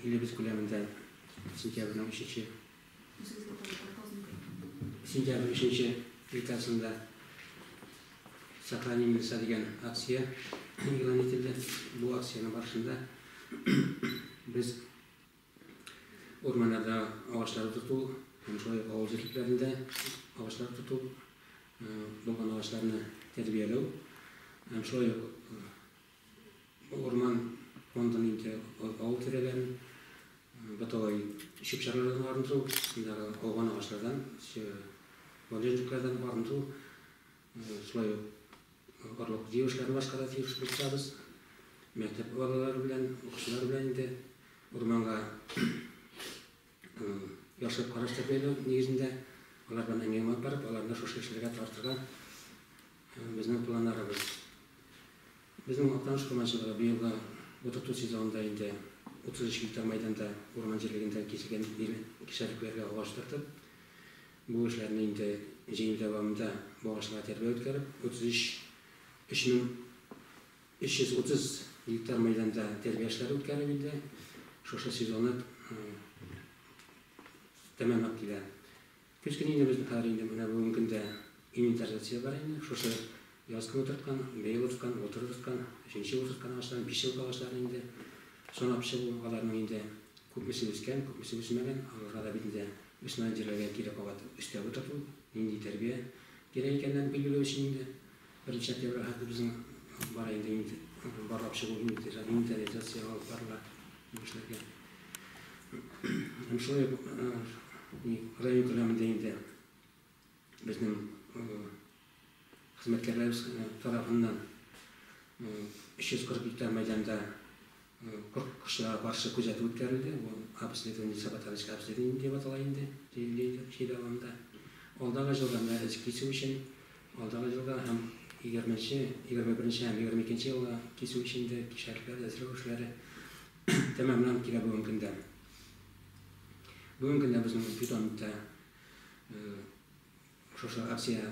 Илебез күләмендә сентябрьнең өченче сентябрь өченче декадасында сохраним леса дигән акция игълан ителде. Бу акцияның барышында без урманнарда агачлар тоту һәм шулай ук авыл җирләрендә агачлар тоту булган агачларны тәрбияләү һәм шулай ук Урман фондын инде авыл тирәләрен бытовай чүп-чарлардан арындыру, шундагы ауган агачлардан, валежниклардан арындыру, шулай ук орлык җыю эшләрен башкарырга тиеш булып торабыз. Мәктәп балалары белән, укучылар белән инде урманга яхшы караш тәрбияләү нигезендә, алар белән әңгәмә алып барып, аларны шушы эшләргә тартырга безнең планнарыбыз. Безнең Актаныш командасында быелгы утырту сезонында инде 33 гектар мәйданда урман җирлегендә киселгән ир кишәлекләргә агач утыртып, бу эшләрне инде җәяү дәвамында бу агачларга тәрбия үткәреп, 33 3 мең 330 гектар мәйданда тәрбия эшләре үткәрелеп инде шушы сезонны тәмамлап килә. Көз көне инде безнең хәзер инде менә бүгенге көндә инвентаризация бар инде. Шушы яз көне утырткан, быел утырткан, былтыр утырткан, өченче ел утырткан агачларын, биш еллык агачларын инде санап чыгу, аларның инде күпмесе үскән, күпмесе үсмәгән, аларга да бит инде үсмәгән җирләргә кире кабат өстәп утырту, нинди тәрбия кирәк икәннәрен билгеләү өчен инде. Беренче октябрь хәтле безнең бар инде инде барлап чыгу инвентаризация алып барыла бу эшләргә. Һәм шулай ук район күләмендә инде безнең хезмәткәрләребез тарафыннан 340 гектар мәйданда Куркытучыларга каршы күзәтү үткәрелде, бу обследование, саботажническое обследование дип атала инде, диелгән җир алымында. Алдагы елга менә эз кисү өчен, алдагы елга һәм егерме нче, егерме беренче һәм егерме икенче елга кисү өчен дә кишәрләр әзерләү эшләре тәмамланып килә бүгенге көндә. Бүгенге көндә безнең питомникта шушы акция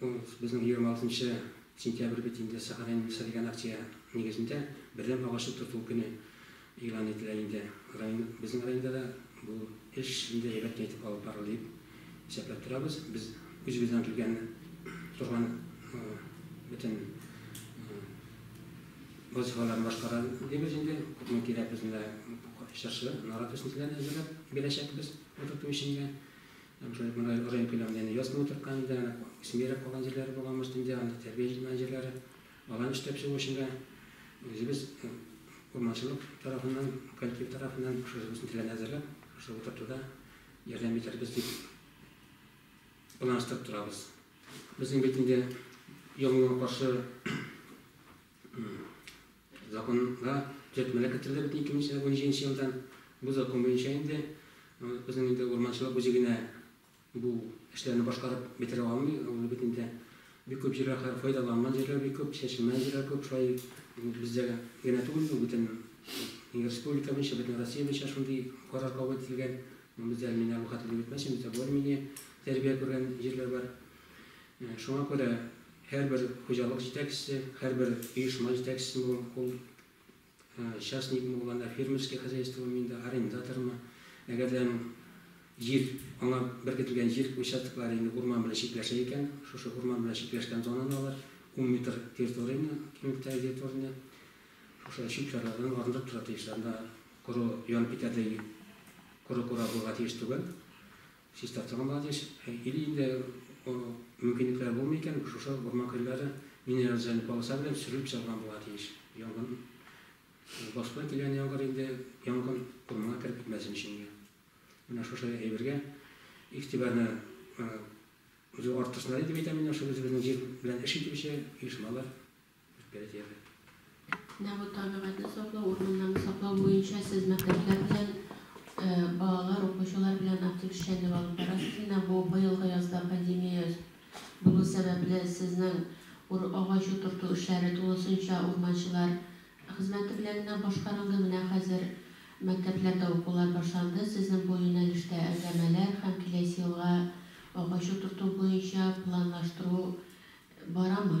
Ул безнең егерме алтынчы сентябрь бит инде, Сәхарәнең Миса дигән акция нигезендә Бәдрәм агачы тоту көне игълан ителә инде. Район, безнең районда да бу эш шундый әйбәт кенә итеп алып барылды дип исәпләп торабыз. Без үзебездән килгән торган бөтен вазифаларны башкара дибез инде. Күпме кирәк безне дә чыршы, нарат үсентеләрен әзерләп бирәчәкбез утырту өчен дә. Уже монда район күләмендә инде яз көне утырткан инде, әнә үсмиерәк калган җирләре булган, может, инде андый тәрбия җитмәгән җирләре. Аларны эшләп чыгу өчен дә үзебез урманчылык тарафыннан, коллектив тарафыннан шушы үзебезнең теләне әзерләп, шушы утыртуда ярдәм итәрбез дип планлаштырып торабыз. Безнең бит инде яңгырга каршы Законга төзәтмәләр кертелде бит 2017 елдан. Бу закон буенча инде безнең инде урманчылык үзе генә бу эшләрне башкарып бетерә алмый. Ул бит инде бик күп җирләр хәзер файдаланган җирләр бик күп, чәчелмәгән җирләр күп. Шулай бездә генә түгел бу, бөтен республика буенча, бөтен Россия буенча шундый карар кабул ителгән. Бездә әле мин әле бу хәтле дип әйтмәсен, бездә более-менее тәрбия күргән җирләр бар. Шуңа күрә һәрбер хуҗалык җитәкчесе, һәрбер оешма җитәкчесе булам, ул частникмы ул анда, фермерский хозяйствомы, мин дә арендатормы, әгәр дә аның җир, аңа беркетелгән җир участоклары инде урман белән чикләшә икән, шушы урман белән чикләшкән зонаны алар ун метр территорияне, киңлектәге территорияне шушы чүп чарлардан арындырып тора тиешләр, анда коры, янып китәрдәй коры кура булырга тиеш түгел. Чистартырга да тиеш. Или инде мөмкинлекләре булмый икән, шушы урман көлләре минерализационный полоса белән сөрелеп чыгарга була тиеш. Янгын башка килгән яңгыр инде янгын урманга кереп китмәсен өчен. Менә шушы әйбергә игътибарны үзе артырсыннар дип әйтәм мин, шул үзебезнең җир белән эш итүче оешмалар. Менә бу табигатьне саклау, урманнарны саклау буенча сез мәктәпләр белән, балалар, укучылар белән актив эшчәнлек алып барасыз. Менә бу быелгы язда пандемия булу сәбәпле, сезнең агач утырту эшләре тулысынча урманчылар хезмәте белән генә башкарылды. Менә хәзер мәктәпләрдә укулар башланды. Сезнең бу юнәлештә әңгәмәләр һәм киләсе елга агач утырту буенча планлаштыру барамы?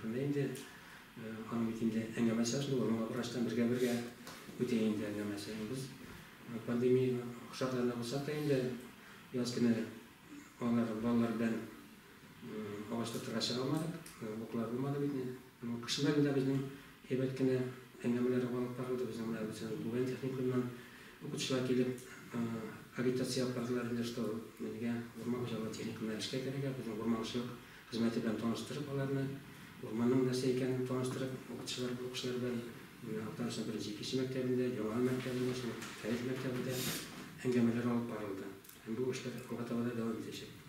Шунда инде аның бит инде әңгәмәсе шул, моңа врачтан бергә-бергә үтә инде әңгәмәсе. Без пандемия шартларында булсак та инде яз көне алар балалар белән агач тотырга чыга алмадык, уклар булмады бит. Кышында гына безнең әйбәт кенә әңгәмәләр алып барылды. Безнең менә үзебез Бүген техникумнан укытучылар килеп агитация алып бардылар инде, что безгә урман хуҗалыгы техникумына эшкә керергә, безнең урманчылык Хезмәте белән таныштырып, аларны урманның нәрсә икәнен таныштырып, укытучылар бу укучылар белән менә Актанышның беренче, икенче мәктәбендә, Яңа мәктәбендә, шул Фәрит мәктәбендә әңгәмәләр алып барылды. Һәм бу эшләр алга таба да дәвам итәчәк.